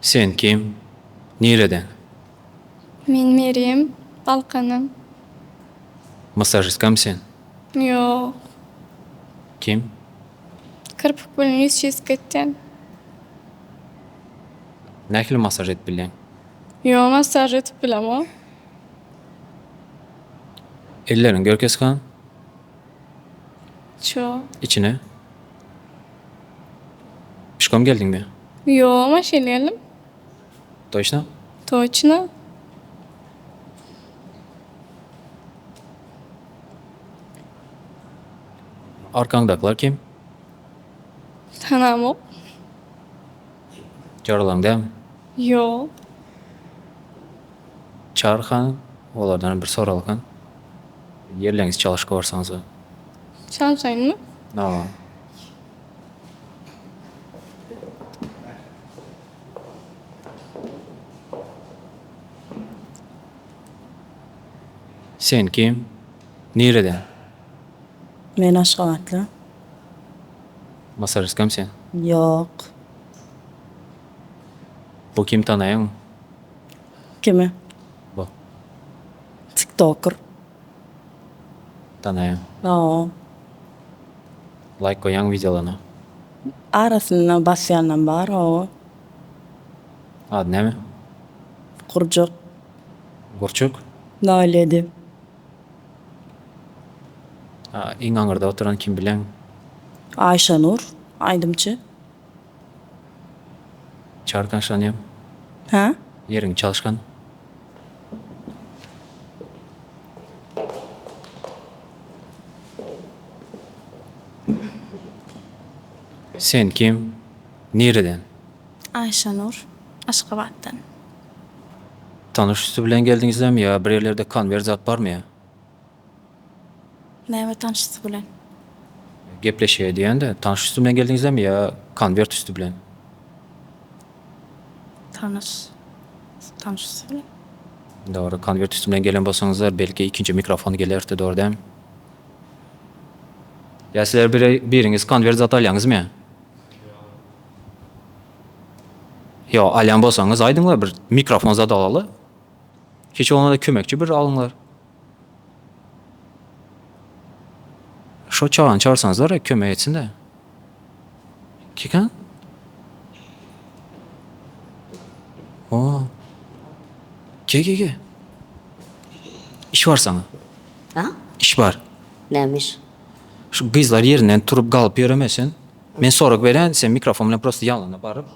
Sen kim? Nireden? Men Merýem, Balkandan. Massajistkamy sen? Ýok. Kim? Kirpik bilen ýüz çyzp geçseň. Nähili masaž edip bilýäň? Ýo masaž edip bilemok. Elleriň gör kesgan. Ço. Içine. Pişkom geldiňmi? Ýo maşyn geldim. Toçna? Toçna? Arkaňdakylar kim? Tanamok. Jaralaň dälmi? Ýok. Çary hanym, olardanam bir soralakan. Ýerleňiz çalyşyp barsaňyz. Çalyşaýynmy? Hawa. Sen kim? Nireden? Men Aşgabatly. Masaryskam sen? Ýok. Bu kim tanaýaňmy? Kimi? Bu. Tiktoker. Tanaýan. Ýok. Laýk goýýaň wideolaryna. Arasynda basýanam bar owo. Ady näme? Gurjak. Gurçuk? Nol ýedi. A iň aňyrda oturan kim bileň? Aýşanur aýdymçy. Çar taşlanýaň. Hä? Ýeriň çalyşgan. Sen kim? Nireden? Aýşanur. Aşgabatdan. Tanyş üsti bilen geldiňizlämi ýa bir ýerlerde konwert zat barmy ýa? Näme tanşysy bilen. Gepleşýär diýende tanyş üsti bilen geldiňizemi ýa konwert üsti bilen. Tanyş tanyş üsti bilen. Dogry konwert üsti bilen gelen bolsaňyzlar belki ikinji mikrofon gelerdi dogry dämi. Ýa sizler biri biriňiz konwert zat alýaňyzmy. Ýa alýan bolsaňyz aýdyňlar bir mikrofon zat alaly. Hiç bolmanda kömekçi bir alyňlar. Şo çagany çagyrsaňyzlar e kömek etsin-dä. Kika? O. Gel gel gel. İş bar sana. Ha? İş bar. Nämiş? Şu gyzlar ýerinden turup galyp ýöreme sen. Men sorag berän, sen mikrofon bilen prosta ýanlaryna baryp,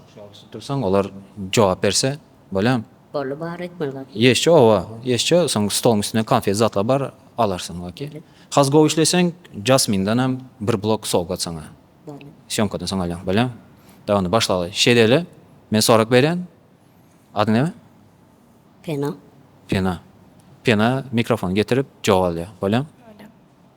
dursaň olar jogap berse. Bolýamy? Boldy bar etmeli bar. Ýeşje oba ýeşje soň stoluň üstünde konfet zatlar bar alarsyň ok. Has gowy işleseň jasmindanam bir blok sowgat saňa. Boldy. Sýomkadan soň alýaň bolýamy? Dawa onda başlaly. Şeýdeli men sorag berýän adyň näme? Pena. Pena. Pena mikrofony getirip jogap alýar bolýamy? Bolýa.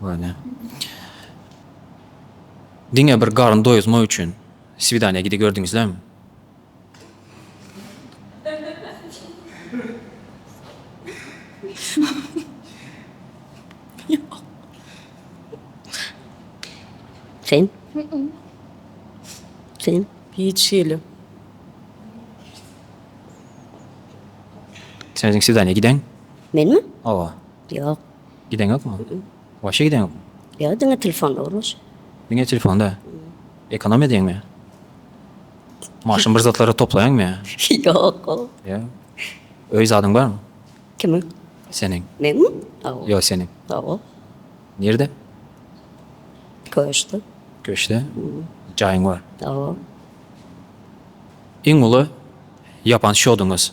Göni. Diňe bir garyn doýuzmak üçin swidaniýa gidip gördüňizlämi? Sen? Sen? Hiç hili. Sen özüň swidaniýa gideň? Menmi? Hawa. Ýok. Gideň ýokmy? Waşe gideň ýokmy? Ýok diňe telefonda gurluşyk. Diňe telefonda? Ekonomiýa edýäňmi? Maşyn bir zatlary toplaýaňmy? Ýok. Ýok. Öý zadyň barmy? Kimiň? Seniň. Meniňmi? Hawa. Ýok seniň. Hawa. Nirde? Köşkde. Köşkde? Jaýyň bar. Hawa. Iň uly ýapan şoduňyz?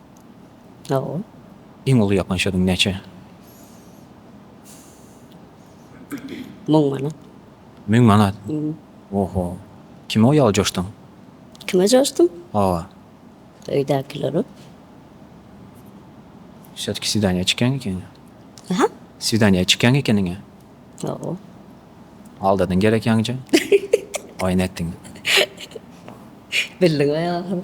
Iň uly ýakgan şödüň näçe? Müň manat. Müň manat? Oho. Kime o ýaly joşduň? Kime joşdum? Hawa. Öýdäkilere. Şeýdip swidaniýa çykýaň ekeni. Aha. Swidaniýa çykýaň ekeniň-ä. Hawa. Aldadyň gerek ýaňja. Oýun etdiň. Bildiň-oý ahyry.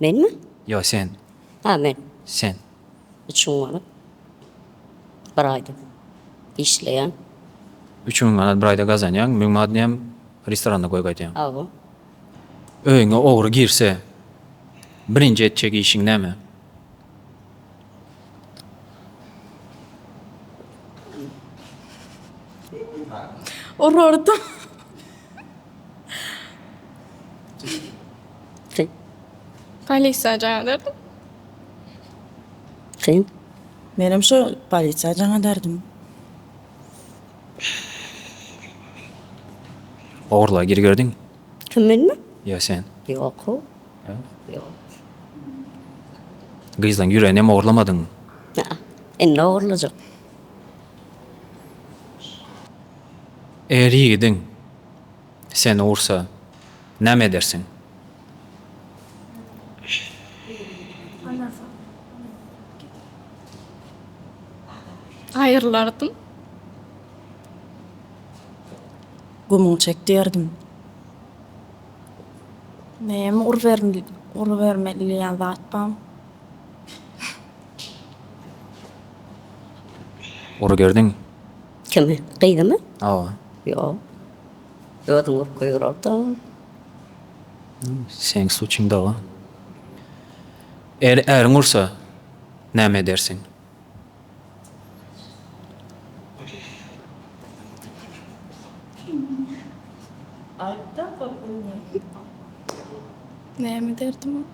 Menmi? Ýok, sen. Ha, men. Sen. Üç müň manat. Bir aýda işleýän. Üç müň manat bir aýda gazanýaň, müň manatyny hem restoranda goýup gaýdýaň. Hawa. Öýüňe ogry girse, birinji etjek işiň näme? Urardym. Kyn. Polisiýa jaň ederdim. Kyn. Menem şo polisiýa jaň ederdim. Ogurlyga girgerdiňmi? Kim menmi? Ýa sen. Ýok-ow. Ýok. Gyzlaň ýüreginem ogurlamadyňmy? Ynha, indi ogurlajak. Eger ýigidiň seni ursa, näme edersiň? Aýrylardym. Gumuň çekdirdim. Näme urubermeli diýen zat barmy? Uruberdiň. Kimi? Gyzymy? Hawa. Ýok. Özüň urup goýbererdi. Seň suçuň dawa. Eger äriň ursa, näme edersiň? Näme ederdim?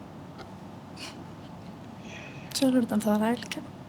Şolardan soraýlyka.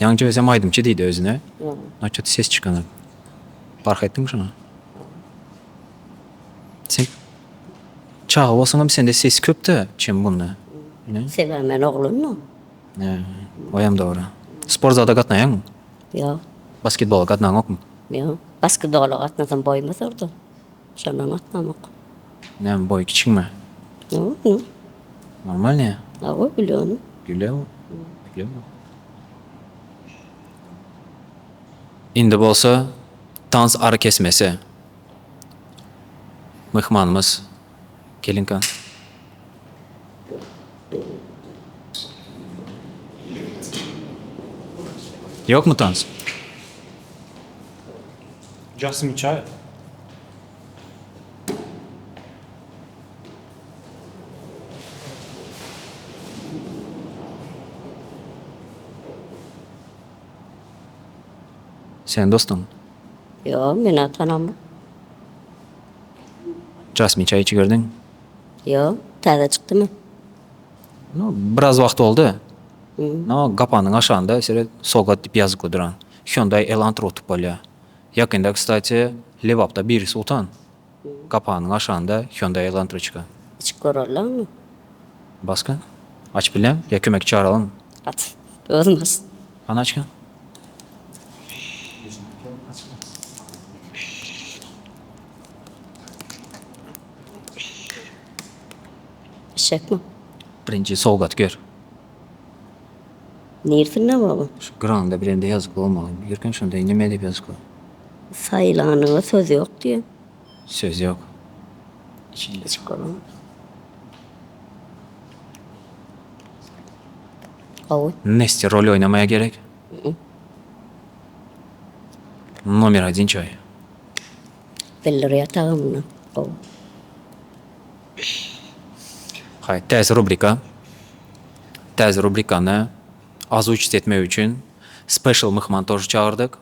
Ýaňja özem aýdymçy diýdi özüne. Naçe ses çykanok. Bark etdiňmi şoňa? Sen çaga bolsaňam sende ses köp-de çem bunda. Sebäbi men oglanmyň. Hä, oýam dogry. Sport zada gatnaýaňmy? Ýok. Basketbola gatnaňokmy? Ýok. Basketbola gatnasam boýum uzardy. Şonam atlamok. Näme boýy kiçiňmi? Ýok indi. Normalnyýa? Hawa güleni. Güle güleni. Indi bolsa tans arakesmesi. Myhmanymyz gelinka. Ýokmy tans? Jasmine çaý. Sen dostuňmy? Ýok, men ony tanamok. Jasmine çaý içiberdiňmi? Ýok, täze çykdymy? No, biraz wagt boldy. No, gapanyň aşagynda şeýle Sogat diýip ýazykly duran Hyundai Elantra utup bolýar. Ýakynda, kstati, Lebapda birisi utan. Gapanyň aşagynda Hyundai Elantra çykan. Açyp görerleňmi? Baska? Açyp bilýän? Ýa kömekçi çagyralymmy? Aç, özüm aç. Hany açgyn. Eşekmi? Birinji sowgat gör. Nirsinden baba? Şu granda birende ýazyp bolmagyny ýörkäň şonda indi nime diýip ýazyşka. Saýylanyňa söz ýok diýen. Söz ýok. Içinde. Içip görüň. Gowy. Nestýa rol oýnamaýa gerek. Nomer odin çaý. Bildirýär tagamyny gowy. Täze rubrika Täze rubrikany azuçit etmek üçin special myhman toşy çagyrdyk.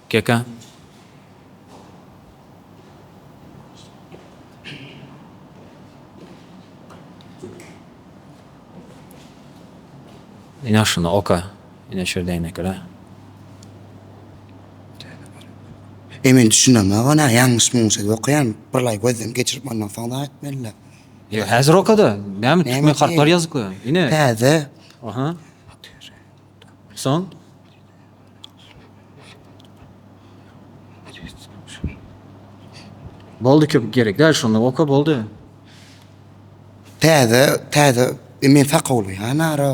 Keka. Ýaşyny oka. Ine şo däneklä. Eý men düşünemok onä ýalňyş muňňuş edip okaýan birlaý gözden geçirip ondan soň dagy etmelidä. Ýa häzir okada näme türkmen harplary ýazypka ine. Täze. Aha. Soň. Boldy köp gerek däl şonda oka boldy. Täze täze men sakawly ýa nara.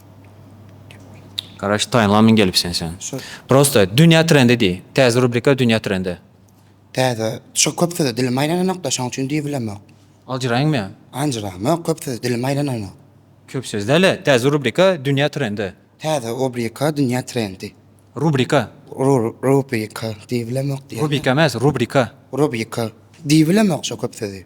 Garaş taýynlan min gelip sen sen. Prosta dünýä trendi diý. Täze rubrika dünýä trendi. Täze şu köp söze dilim aýlananokda şoň üçin diýip bilemok. Aljyraýyň men. Anjyramok köp söze dilim aýlananok. Köp söz däle täze rubrika dünýä trendi. Täze obrika dünýä trendi. Rubrika. Rur rubrika diýip bilemok diýen. Rubika emas rubrika. Rubika diýip bilemok şo köp sözi.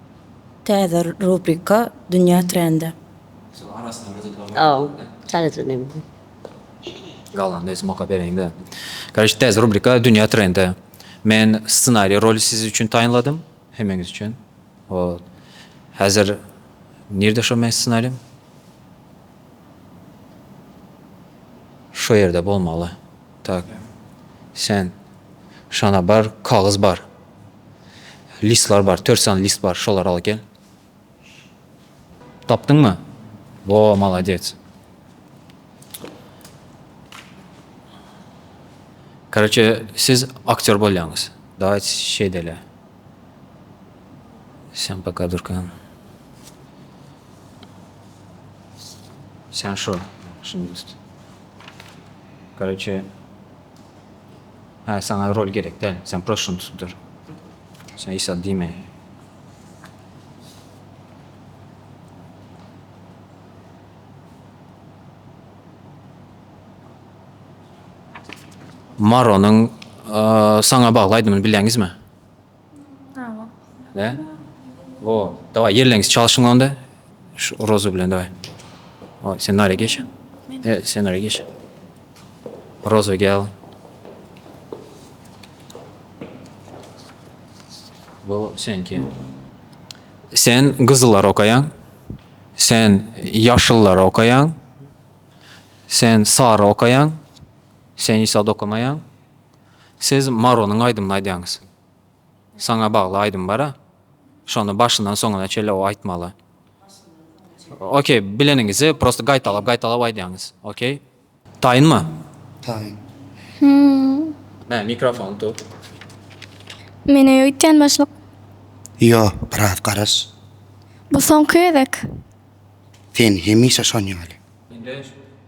Täze rubrika Dünýä trendi. Täze rubrika Dünýä trendi. Men ssenari roly siz üçin taýynladym. Hemmeňiz üçin. Häzir nirde şo meň ssenarim? Şo ýerde bolmaly. Tak. Sen şana bar, kagyz bar. Listler bar, tört sany list bar, şolary al gel. Tapdyňmy? Wo, malades. Karaçe, siz aktýor bolýaňyz. Daýt şeýdele. Sen poka durkan. Sen şu, şunu üst. Karaçe, Hä saňa rol gerek däl sen proşuny tutdur sen iş al diýme. Maronyň saňa bagly aýdymyny bilýäňizmi? Bravo. Ne? Wo. Daway ýelleňiz çalşyň onda. Şu rozu bilen daway. Oý, sen nara geç. E, sen nara geç. Rozu gel. Bu senki. Sen gyzyllar okaýaň. Sen ýaşyllar okaýaň. Sen sary okaýaň. Sen ýsad okamaýaň. Siz Maronyň aýdymyny aýdýaňyz. Saňa bagly aýdym bara. Şony başyndan soňuna çenli o aýtmaly. Okey, bileniňizi prosta gaýtalap gaýtalap aýdýaňyz. Okey. Taýynmy? Taýyn. Hä, mikrofony tut. Men öý öýtýän başlyk. Ýo, biraz garaz. Bu soňky gezek. Sen hemişe şon ýaly. Indi,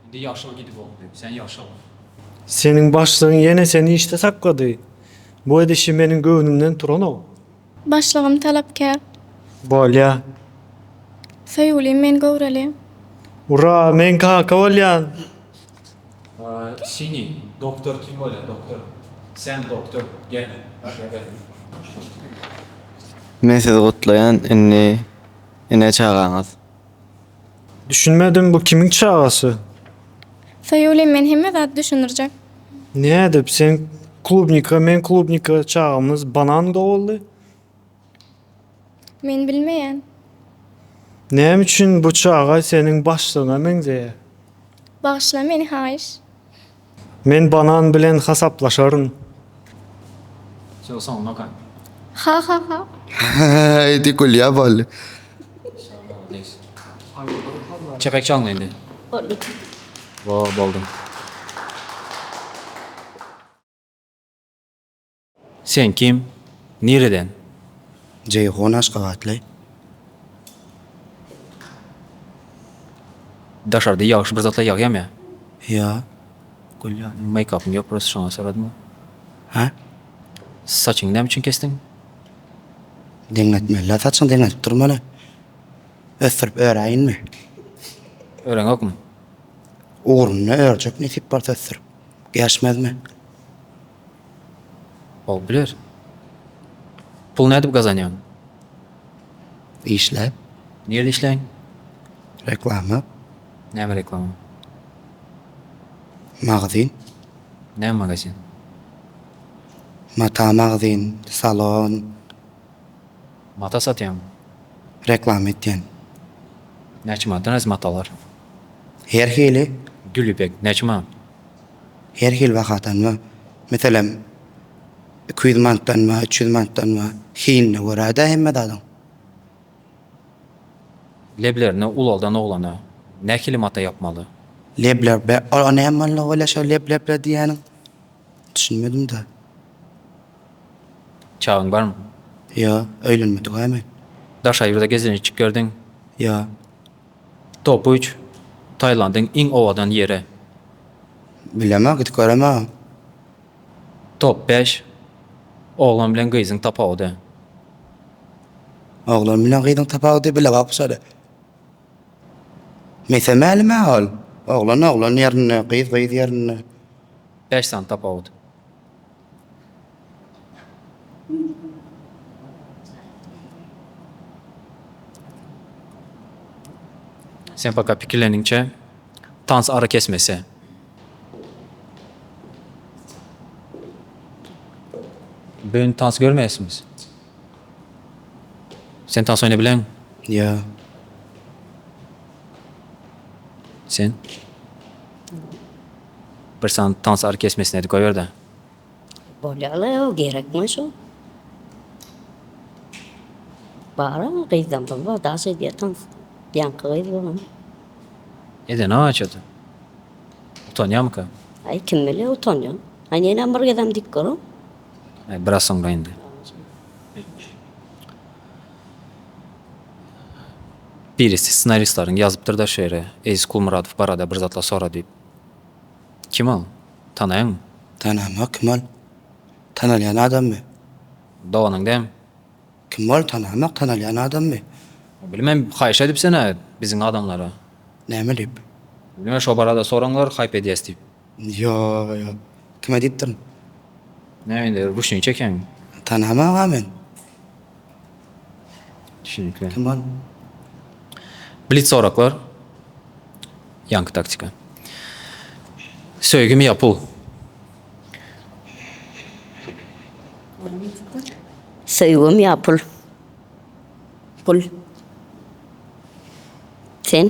indi ýaşyl gidip okdy. Sen ýaşyl. Seniň başlygyň ýene seni işde saklady. Bu edişi meniň göwnümden turanok. Başlygym talapkär. Bolýa. Söýgülim men göwreli. Ura, men kaka bolýan. Sini, doktor kim bolýa, doktor. Sen doktor, gel, başga gel. Men sizi gutlaýan, indi ene çagaňyz. Düşünmedim bu kimiň çagasy? Soýuly men hemme zady düşündirjek. Nädip sen klubnika men klubnika çagamyz banan doguldy? Men bilmeýän. Näme üçin bu çaga seniň başlygyňa meňzeýär? Bagyşla meni haýyş. Men banan bilen hasaplaşaryn. Haýdi gülýä bol. Çepek çalyň indi. Boldy. Sen kim? Nireden? Jeýhun aşgabatly. Daşarda ýagşy bir zatlar ýagýamy? Ýa. Gül ýaly meýkapyň ýok prosto şoňa soradym. Hä? Saçyňy näme üçin kesdiň? Deňletmeli-dä saçyňy deňledip durmaly. Ösdürip öräýinmi? Ören ýokmy? Ugruna örjek nesip bolsa ösdürip. Geçmezmi? Bolup biler. Pul nädip gazanýaň? Işläp. Nirde işläň? Reklama. Näme reklama? Magazin. Näme magazin? Mata magazin, salon. Mata satýaň? Reklama etýän. Näçe manatdan öz matalar? Her hili. Gül ýüpek näçe manat? her hili bahadan we meselem iki ýüz manatdan we üç ýüz manatdan we hiline görä de hemme zadyň. Leblerini ulaldan oglana nähili mata ýapmaly? Lebler be ol näme malla bolýa şo lebleble diýýäniň düşünmedim da. Çagyň barmy? Ýok, öýlenmedik-ä men. Daş aýyrda gezelenje çykerdiň? Ýok. Topuj, Tailandyň iň owadan ýeri. Bilemok, gidip göremogam. Top bäş, Oglan bilen gyzyň tapawudy. Oglan bilen gyzyň tapawudy bilebok şoly. Mese mälimä ol. Oglan oglan ýerinde, gyz gyz ýerinde. Bäş sany tapawut. Sen fakat pikirleniňçe tans ara kesmese. Bugün tans görmeyesiniz. Sen tans oyna bilen. Ya. Sen? Bir sany tans ary kesmesin edip goýberde. Bolýala ýa gerekmi şu. Bara gyzdan pul bar daş edýä tans. Ýaňky gyz bolma. Edeni haçada. Utanýamyka. Aý kim bilýä utanýan. Aý nenem bir gezem diyip görüň. Aý biraz soňra indi. Birisi ssenaristlaryň ýazypdyr-da şu ýere Eziz Kulmuradow barada bir zatlar sora diýip. Kim ol? Tanaýaňmy? Tanamok. Kim ol? Tanalýan adammy? Doganyň dämi? Kim ol? Tanamok. Tanalýan adammy? Bilmem, haýyş edipsen-ä biziň adamlara. Näme diýip? Bilmem, şo barada soraňlar, haýp edýäs diýip. Ýok, ýok. Kime diýipdirin? Näme indi, ruşnik çekýäňmi? Tanamok-a men. Kim ol? Blitz soraglar. Ýaňky taktika. Söýgimi ýapyw. Söýgim ýapyl. Pul. Sen?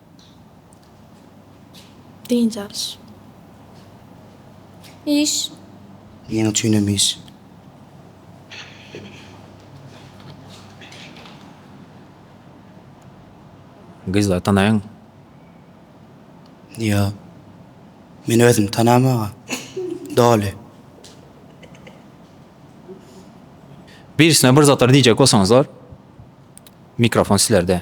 Dynç alyş. Iş. Ýeň üçin hem iş. Gyzlary tanaýaňmy? Ýo. Men özüm tanamaga doly. Birisine bir zatlar diýjek bolsaňyzlar, mikrofon sizlerde.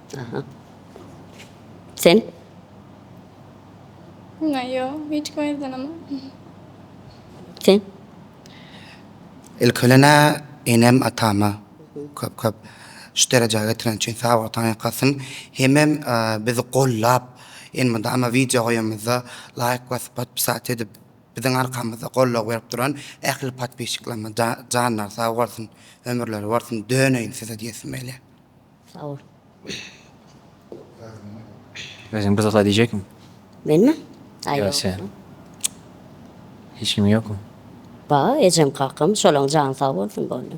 Aha. Sen? Ýa ýok, hiç kim aýyrdanam. Sen? Ilki bilen-ä enem, atama köp-köp şu derejä getiren üçin sag boluň, taň ýakasyn. Hemem bizi gollap, indi munda ama wideo goýanymyzda laýk basyp, podpisat edip, biziň arkamyzda goldaw berip duran ähli podpisçiklerime ja-janlary sag bolsun, ömürleri bolsun, döneýin size diýesim gelýär. Özüň buzgala diýjekmi? Menmi? Aý ýok. Hiç kim ýokmy? Bar, ejem kakam, şolaň jany sag bolsun boldy.